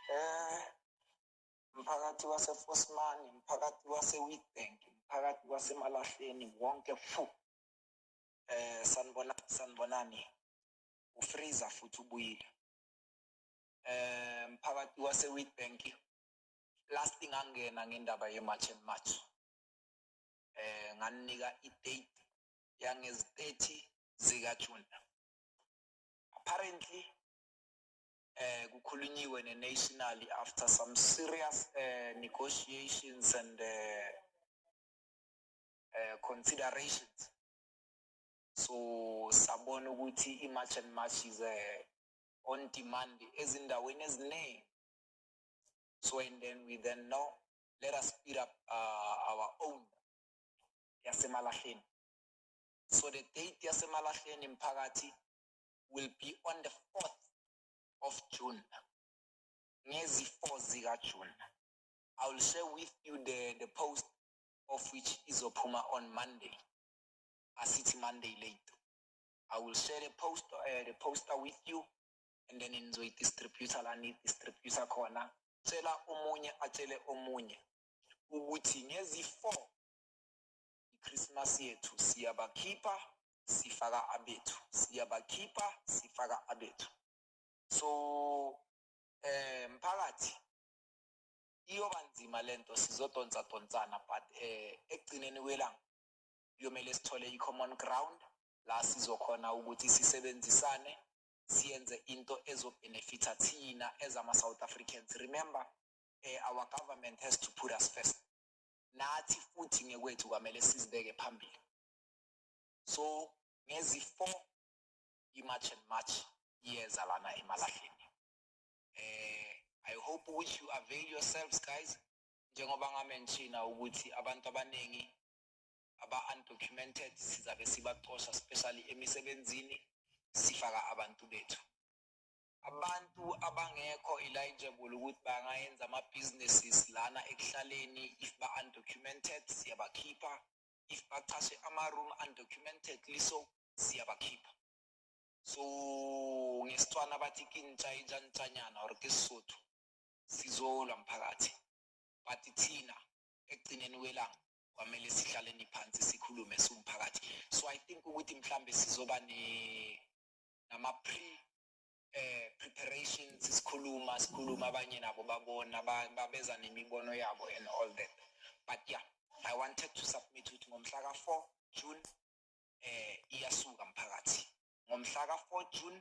Eh, mphakathi wasefosmani mphakathi wasewitbank mphakathi wasemalahleni wonke fu eh sanibona sanibonani ufreezer futhi ubuyile eh mphakathi wasewitbank last thing angena ngendaba yemarch and march eh nganinika idate yangezi-30 zikaJune. Apparently eh kukhulunyiwe neNational after some serious eh, negotiations and eh, eh, considerations. So sabona ukuthi iMarch and March is eh, on demand ezindaweni eziningi. So and then we then know let us speed up uh, our own yasemalahleni so the date yasemalahleni mphakathi will be on the 4th of june ngezi-4 zikajune i will share with you the, the post of which izophuma on monday asithi monday late i will share the post uh, the poster with you and then nizoyidistributor la niyidistributor khona tshela omunye atshele omunye ukuthi ngezi-four iChristmas yethu siyabakhipha sifaka abethu siyabakhipha sifaka abethu so eh mphakathi iyoba nzima lento sizodonsa donsana but eh ekugcineni kwelanga kuyomele sithole i-common ground la sizokhona ukuthi sisebenzisane siyenze into ezobenefitha thina as ama-south africans remember eh, our government has to put us first nathi futhi ngekwethu kwamele sizibeke phambili so ngezi-4 i-march and march iyeza lana emalahleni eh i hope ukuthi you avail yourselves guys njengoba ngamenshina ukuthi abantu abaningi aba-undocumented sizabe sibacosha especially emisebenzini sifaka abantu bethu abantu abangekho eligible ukuthi bangayenza ama-businesses lana ekuhlaleni if ba-undocumented siyabakhipha if bachashe ama-room undocumented liso siyabakhipha so ngesitswana bathi kintsha intshanitshanyana or ke sisotho sizolwa mphakathi but thina ekugcineni kwelanga kwamele sihlaleni phansi sikhulume siwumphakathi so i think ukuthi mhlambe sizoba ne nama pre eh preparations sikhuluma sikhuluma abanye nabo babona babeza nemibono yabo and all that but yeah i wanted to submit ukuthi ngomhla ka 4 June eh iyasuka mphakathi ngomhla ka 4 June